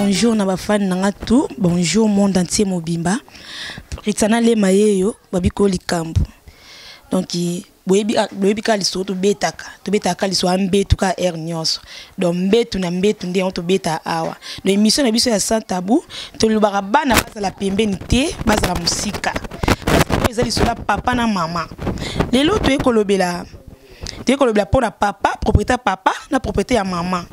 bonjour na bafani na nga tout bonjour monde entier mobimba ritsana lema ye yo babiko likambo donc boyebi ah, kaka lisolo tobetaka tobetaka lisolo ambetu kaka heure nyonso donc mbetu na mbetu nde yango tobeta awa donc émission na biso ya sans tabou tolobaka bana bazala pembeni te bazala mosika oyo eza lisolo ya papa na mama lelo toye kolobela toye kolobela mpo na papa propriété ya papa na propriété ya mama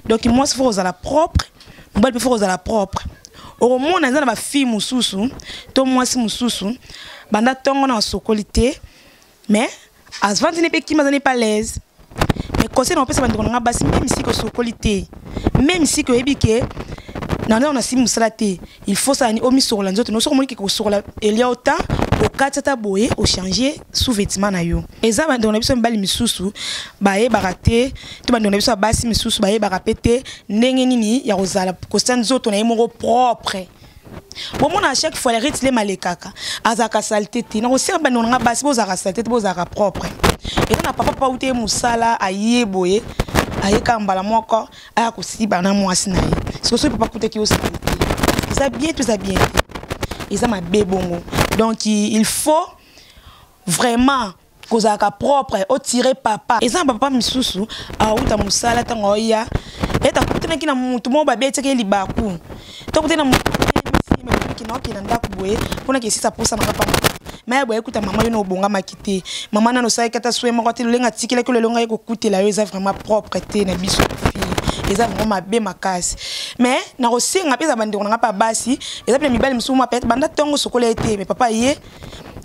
donc mwasi fo kozala propre mobali mpe fo kozala propre okomona eza na bafille mosusu to mwasi mosusu banda ntongo na basokoli te mais azvandi ne mpe kima azali mpe alaise mais conseil nakopesa bandeko na ngai basi meme siki osokoli te meme siki oyebi ke nana ona si mosala te il faut sani omisokola nzoto no soki omoni ke kosokola elia ota okati ata boye ochange sous vêtement na yo eza bandeko na biso mibali misusu bayebaka te to bandeko na biso ya basi misusu bayebaka mpe te ndenge nini ya kozala kosa nzoto na ye moko propre bomona chaque fois lerite lema alekaka azalaka salite te nakosenga bandeko na ngai basi bozalaka salite te bozalaka propre eza na papa pau te mosala aye boye ayekaka mbala moko aya kosiba na mwasi na ye siko soki papa kutaki yo salite eza bien to eza bien te eza mabe bongo donc il faut vraiment kozalaka propre otire papa eza na bapapa misusu awuta mosala ntango aoya ete akutanaki na motu moko babetaki ye libaku to akutani na motuokinaki na ndako boye mpo na kesisa mposa na papa maya boye kuta mama yo na obongamaki te mama nano osalaki ata swe moko te lolenga atikelaki olelo ngai kokutela yo eza vraiment propre te na biso eza vraiment mabe makasi mais nakosenga mpe eza bandeko na ngai mpe ya basi eza mpe na mibali mosusu mwa pete banda ntongo sokola ye te me papa ye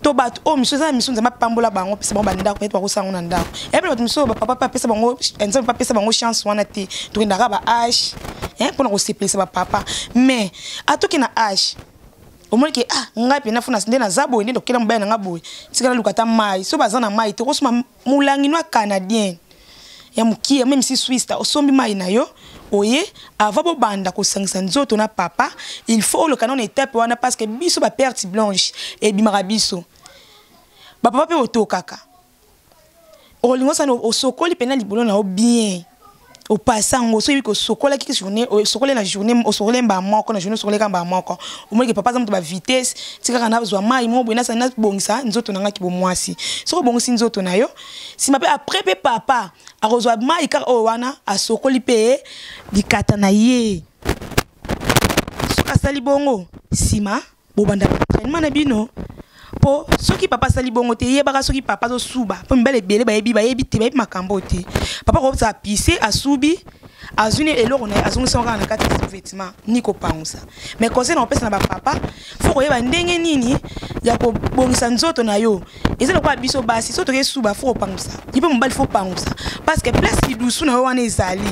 to bato oyo oh, misu eza na misu nzambe apambola bango apesa bango bandako ete bakosala yango na ndako yabi bato misu oyo bapapa mpe apesa bango eh, nzambe mpe apesa bango chance wana te tokendaka ba age eh, mpo na kosepelisa bapapa mais atoki na age omoni ke ah ngai mpe nafuna nde naza boye nde tokela mobali na ngai boye tikala luka ata mai so baza na mai te okosoma Mulangi noa canadien ya mukie meme si Suisse osombi mai na yo oye avant bobanda kosangisa nzoto na papa il faut oleka nano etape wana parce que biso ba perte blanche ebimaka biso bapapa mpe otokaka olingo sana osokoli mpena libolo na yo bien opasa yango soki osokolaki journée osokole na journée osokole mbaa moko na journée osokoleka mbaa moko omonike papa aza moto bavitesse ti kaka nazwa mai moko boye nasali nabongisa nzoto na ngai kibomwasi soki obongisi nzoto na yo nsima mpe après mpe papa akozwa mai kaka oyo wana asokoli mpe likata na ye soki asali bongo nsima bobanda entraînement na bino po soki papa asali bongo te yebaka soki papa azosuba po mibale ebele bayebi bayebi te bayebi makambo te papa akobisa apise asubi azwi ne eloko na ye azongisama kaka na kati ya sous-vêtement ni kopangusa mais conseil na kopesa na bapapa fo koyeba ndenge nini ya kobongisa nzoto na yo eza lokola biso basi so toke suba fo kopangusa ye mpe mobali fo pangusa parce que place lidusu na yo wana ezali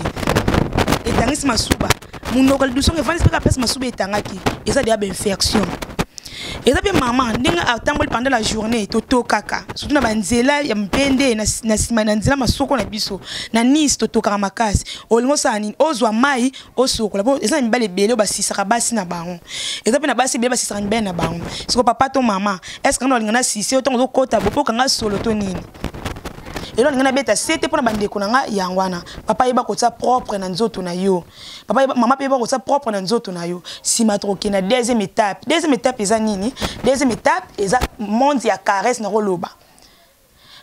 etangisi masuba munoko lidusongo evandisi mpe kaka place masuba etangaki eza deya bainfection eza mpe mama ndenge atamboli pendant la journée totokaka surtout na banzela ya mpende na nsima na nzela masoko na biso na nice totokaka makasi olingi osala nini ozwa mai osokola po eza na mibale ebele oyo basisaka basi na bango eza mpe na basi ebele basisaka mibale na bango siko papa to mama estce kanga olinga na sise yo ntango ozokota bope okanga solo to nini elo alingi nabeta sete mpo na bandeko na ngai yango wana papa yeba kotia propre na nzoto na yo papa yeba, mama mpe yeba kotia propre na nzoto na yo nsima tokoke na deuxième étape deuxième étape eza nini deuxième étape eza monde ya caresse na koloba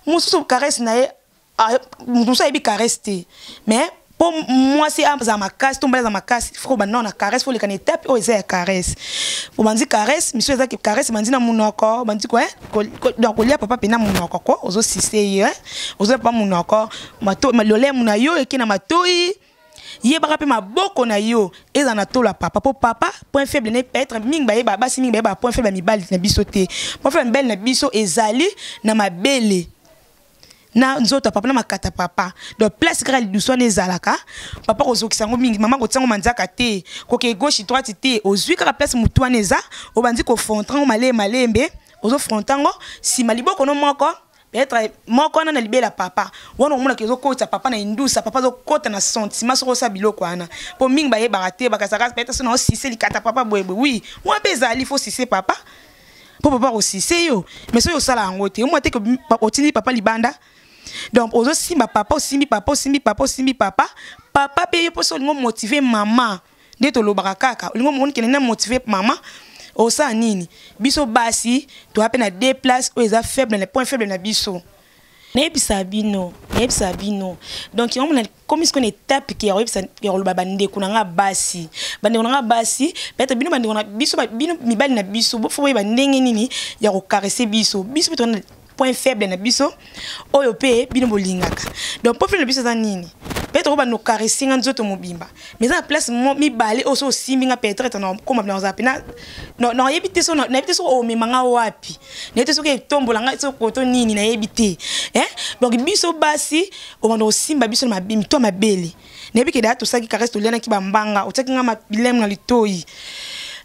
mosusu caresse na ye ah, mosusu ayebi caresse te mais mpo mwasi azala makasi to mbali aza makasi fo banda nao na caresse fo olekana etape oyo eza ya caresse po banzi caresse misu eza caresse banzi na monoko banzi ko donc kolia papa mpe na monoko ko ozosise ye ozolia papa monoko lolemo na yo eke na matoi yebaka mpe maboko na yo eza na tola papa mpo papa point faible ne peut être mingi bayeba basi mingi bayeba point faible ya mibali na biso te point faible ya mibali na biso ezali na mabele na nzoto papa na makata papa donc place kaka lidusu wana ezalaka papa kozokisa yango mingi mama kotia yango manzaka te koke gauche droite te ozwi kaka place motu wana eza obandi kofronta yango malee malembe ozofronta yango nsima liboko no moko peut-être moko wana na libela papa wana omonaka ezokotisa papa na indusa papa azokota na sentiment soko osa biloko wana mpo mingi bayebaka te bakazaka peut-être so na osise likata papa boyeboye wi wana mpe ezali fo sise papa mpo papa akosise yo mais soki osala yango te omwa te otindi papa libanda donc ozosimba papa osimbi papa osimbi papa osimbi papa papa mpe ye mposo olingi omotive mama nde tolobaka kaka olingi omoni kende na motive mama osala nini biso basi toya mpe na deux place oyo eza faible na point faible na biso nayebisa bino nayebisa bino donc yango komi sikoyo na etape ke ya koyebisa ya koloba bandeko na ngai basi bandeko na ngai basi peut-être bino bandeko na biso bino mibali na biso bofo boyeba ndenge nini ya kokarese biso biso mpe tona point faible na biso oyo mpe bino bolingaka donc point faible na biso eza nini peut-être oyo bando okarese nga nzoto mobimba mais eza na place mibale oyo so osimbi nga peut-être nakoma bina kozala mpe nayebi te so nayebi te soki omema nga wapi nayebi te soki etombola nga soki koto nini nayebi te donc biso basi obanda osimba biso na mito ya mabele nayebi ke daya tosalaki karese tolianaki bambanga otiaki ngai bilemu na litoi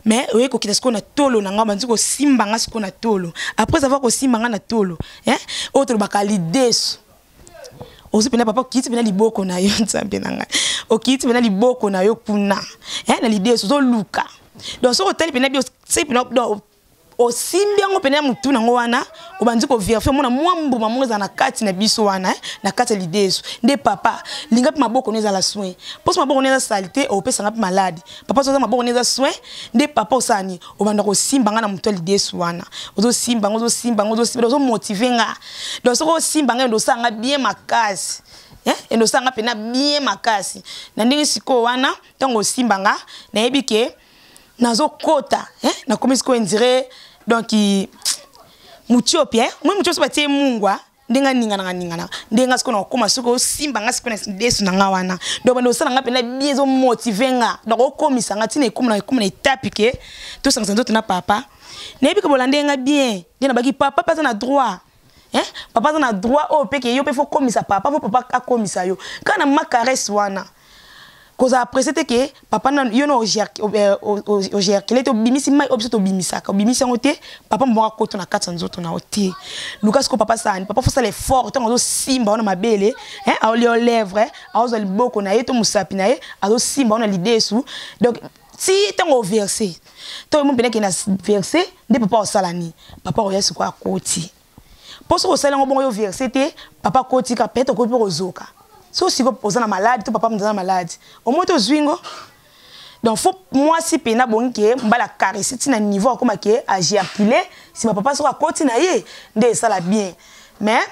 mais oye kokita sikoyo na tolo na ngai banzi kosimba ngai sikoyo na tolo après avoir kosimba ngai na tolo eh? oyo tolobaka lideso ozo pena papa okiti pena liboko na yo nzambe na ngai okiti pena liboko na yo kuna eh? na lideso ozoluka donc soki otali pena bio se pena osimbi yango pene ya motu nango wana obandi koverifie omona mwa mbuma moko ezala na kati na biso wana eh, na kati ya lide ezo nde papa linga mpe maboko no ezala soin mposo maboko no eza sali te opesanga mpe maladi papa soza maboko no eza soin nde papa osala nini obanda kosimba nga na motu ya lide esu wana ozosimba nga ozosimba nga ozosimba ozomotive nga donc soki osimba nga ende osala nga bien makasi Eh, ende osala nga mpe na bien makasi na ndenge sikoyo wana ntango osimba nga nayebi ke nazo kota hein na komi siko indire donc mutiopi hein moi mutiopi ba tie mungwa ndenga ninga nanga ninga na ndenga siko na koma siko simba nga siko na desu na nga wana donc bando sala nga pena biezo motiver nga donc okomisa nga tina ekoma na ekoma na etape ke to sangisa nzoto na papa nayebi ke bolanda nga bien nde nabaki papa papa aza na droit eh papa aza na droit oyo mpe ke yo mpe fo komisa papa fo papa akomisa yo kaka na ma caresse wana kozala apprécie te ke papa na yo na ogerkele te obimisi mai oyo biso tobimisaka obimisi yango te papa mobongo akoto na kati ya nzoto na yo te luka siko papa sani papa fosala effort ntango azosimba yo na mabele aolia yo lèvre aozwa liboko na ye to mosapi na ye azosimba yo na lidesu donc ti ntango overse to yo mopendaki na verse nde papa osala nini papa oya sikoyo akoti mpo soki osali yango bongo yo verse te papa akoti ka peut-être okoki mpe kozoka so sikoyo oza na malade to papa moto aza na malade omoi te ozwi ngo donc fo mwasi mpe nabongi ke mbala caresse ntina niveau akoma ke ageacule nsima papa soki akoti na ye nde esala bien mais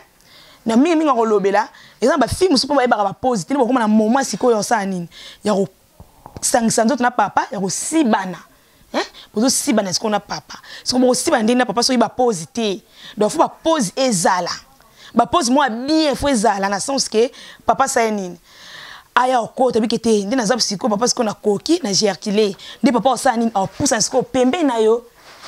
na mingi mingi akolobela eza na bafilme mosusu mpo bayebaka bapose te nde bakoma na moment sikoyo osala nini ya sangisa nzoto na papa ya kosibana eh? bozosibana sikoyo na papa siko bokosibana ndenge na papa soki bapose te donc fo bapose ezala bapose mwa bien fo ezala na sens ke papa saye nini aya okota bike te nde naza sikoyo papa sikoyo nakoki na gercule nde papa osala nini aopusana sikoyo pembeni na yo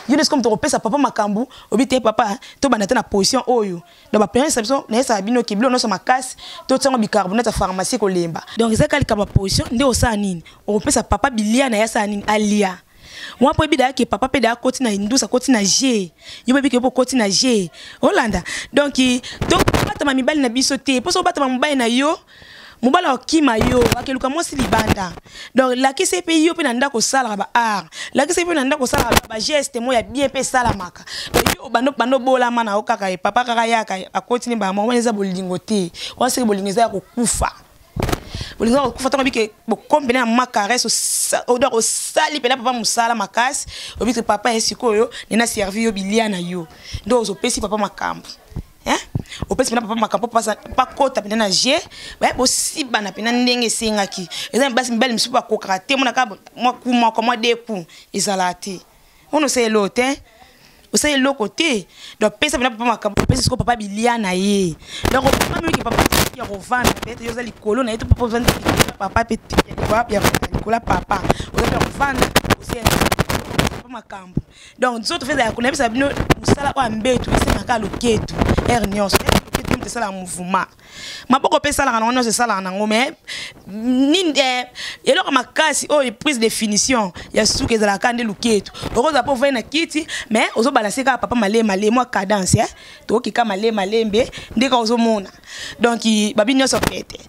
yo nde sikoyo moto okopesa papa makambo obi te papa tobanda te na position oyo donc baplanisa biso nayesaka bino ke biloko nyonso makasi totiango bicarbonate ya pharmacie kolemba donc eza kaka likambo ya position nde osala nini okopesa papa bilia na ye asala nini alia wana mpo ebida yake papa mpe da akoti na indusa akoti na g yo boyebi kepo okoti na g olanda donk tobatama mibali na biso te mposo obatama mobali na yo mobali akokima yo akeluka mwasi libanda donc lakisa ye mpe yo mpe na ndako osalaka ba art lakisa ye mpe na ndako osalaka bageste mo ya bien mpe esalamaka donc yo obanda obanda obolama na yo kaka ye papa kaka yaka akoti ne bamoko wana eza bolingo te wana soki bolingo eza ya kokufa bolingo ya kokufa ntango obike bokombe na ya ma caresse donc osali mpena papa mosala makasi obike papa ye sikoyo nena servi yo bilia na yo nde ozopesi papa makambo Hein? opesi mpena papa makambo bakota mpena na je baye bosibana mpena ndenge esengaki eza basi mibali mosusu bakokaka te monaka mwa ku moko mwa de ku ezalaka te ono osala eloko te osala eloko te donc pesa mpena papa makambo opesi siko papa bilia na ye donc opamiliki papa ya kovanda peut-être yo oza likolo na ye to papa ovandi papa mpe likolo ya papa oza mpe ya kovanda osenga papa makambo donc nzoto feza ya kolabisa bino mosala oyo ambetu esengaka loketu ere nyonso loketu moto esalaka mouvement maboko mpe esalaka nango nyonso esalaka nango mai nini eh, eloko makasi oyo prise de finition ya suka ezalaka nde loketu okozala mpo ovai na kiti mai ozobalanse kaka papa male male mwa cadence eh? tokokika male malembe nde kaka ozomona donk babi nyonso pete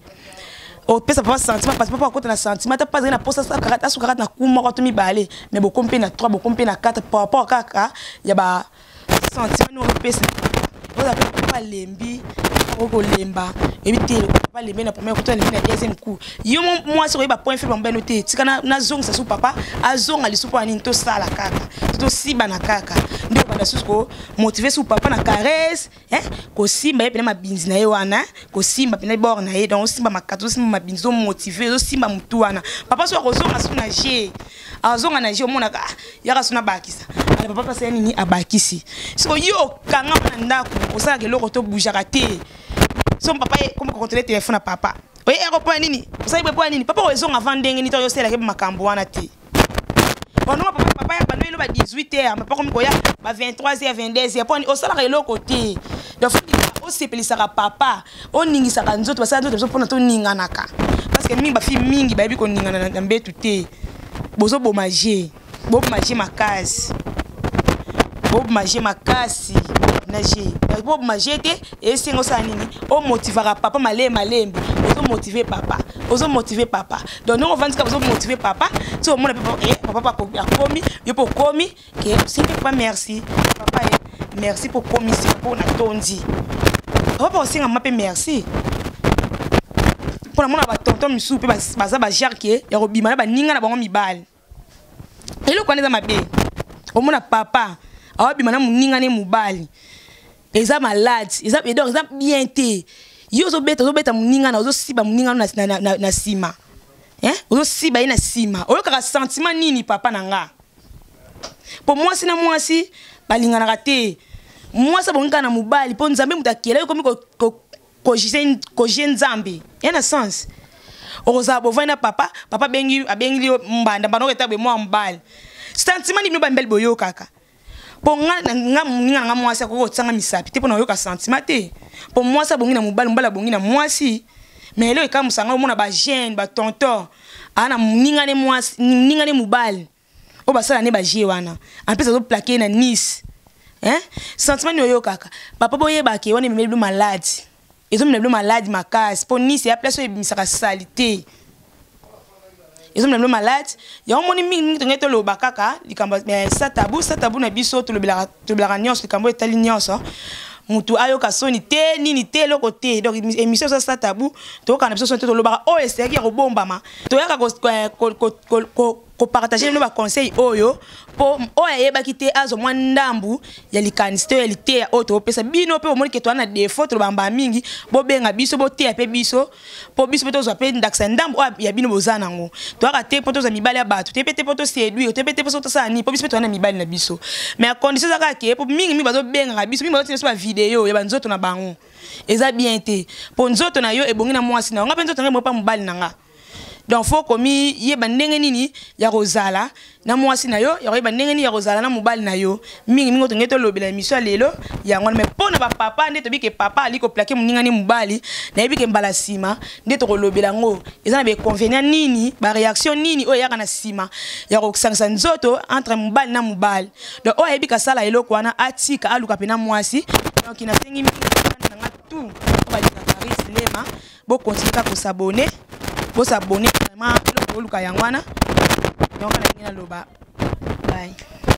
opesa papa sentiment parce papa akota na sentiment ata papa azali na posa asuka kaka na ku moko to mibale mais bokomi mpe na 3 bokomi mpe na 4 par rapport kaka ya ba sentiment nini opesa oza mpe papa alembi okolemba ebi te papa alembi na premier kutu alembi na deuxième coup yo mwasi okoyeba point faible mobeno te tika nazongisa su papa azonga lisu mpo ya nini tosala kaka tosiba na kaka nde obanda susu komotive su papa na caresse eh, kosimba ye mpena mabinzi na ye wana eh, kosimba mpena bor na ye donc osimba makati osimba mabinzi omotive ozosimba motu wana papa so akozonga so na je azonga na je omonaka ah, yaka so nabakisa ale papa mpasi ya nini abakisi soko yo okanga na ndako osalaka eloko to boujaka te so papa ye kokontole telefone ya papa oye eko mpo ya nini osali mpo ya nini papa oyo ezonga avant ndenge nito oyoselaki makambo wana te banonga papa papa ya bano eloba 18 heures papa komi koya ba 23 heures 22 heures poni osalaka eloko te donc osepelisaka papa oningisaka nzoto basala nzoto biso mpona toninganaka parce que mingi bafille mingi bayebi koningana na mbetu te bozoboma je boboma je makasi boboma je makasi na je boboma je te esengo osala nini omotivaka papa malee malembe ozomotive papa ozomotive papa donc ndenge ovandi kaka ozomotive papa ti omona mpe eh, papa akomi yo mpe okomi ke osengi papa merci papa ye eh, merci mpo okomisi mpo natondi papa mpe osengama mpe merci mpo namona batonton misusu mpe baza bajare ke ya kobima na baninga na bango mibale eloko wana eza mabe omona papa awabima na moninga ne mobali eza malade eza donc eza bien te yo ozobeta ozobeta moninga na ozosiba moninga no na nsima ozosiba ye na nsima oyokaka sentiment nini papa na nga mpo mwasi na mwasi balinganaka te mwasi abongi kaka na mobali mpo nzambe moto akela yo komi kojie nzambe ya na sens okozala bovandi na papa papa abengi abengili yo mbanda mbanda oketa boye mwa mobali sentiment nini bino bamibali boyokaka mpo nga moninga na nga mwasi akoki kotianga misapi te mpo na koyoka sentiment te mpo mwasi abongi na mobali mobali abongi na mwasi mais eloko ekamwisa ngai omona bagene batonton aa na moninga ne mwasi moninga ne mobali oyo basala ne bagie wana ampesi azoplake na nice hein? sentiment nini oyokaka papa boyebake wana ememeli bino malade ezomela bino malade makasi mpo nice ya place oyo ebimisaka salite ezomela bino malade yango omoni mingi mingi tongai toloba kaka likambo eh, satabu satabu na biso tolobelaka nyonso likambo oyo etali nyonso mutu ayoka soni te nini te eloko te donc émission eza satabu toyokana biso soni te tolobaka oyo oh, eseyaki ya kobombama toyaka kopartage nino baconseil oyo mpo oyo ayebaki te azwa mwa ndambu ya likanisi to ya liteya oyo topesa bino mpe omoni ke toa na defo tolobaka mbala mingi bobenga biso boteya mpe biso mpo biso mpe tozwa mpe ndakisa ya ndambu oyo ya bino boza nango toyaka te mpo tozwa mibali ya bato te mpe te mpo toseduire te mpe te mpo soki tosala nini mpo biso mpe toa na mibali na biso mais ya condition eza kaka ke mpo mingi mingi bazobengaka biso mingi bazotina biso bavideo ya banzoto na bango eza bien te mpo nzoto na yo ebongi na mwasi na yo nga mpe nzoto na ngai ebongi mpa mobali na nga donc fo komiyeba ndenge nini ya kozala na mwasi na yo ya koyeba ndenge nini ya kozala na mobali na yo mingi mingi otonge tolobela emission ya lelo yango wana mai mpo na bapapa nde toyebi ke papa ali koplake moninga nde mobali nayebi ke mbala nsima nde tokolobela yango eza na baconvenient nini bareaction nini oyo eyaka na nsima ya kosangisa nzoto entre mobali na mobali donc oyo ayebi kasala eloko wana atika aluka mpe na mwasi donc nasengi mingi na nga tout balingaka rislema bo continuer kaka ko s'abonner bo s'abonner vraiment eloko oluka yango wana donc nalingi naloba bye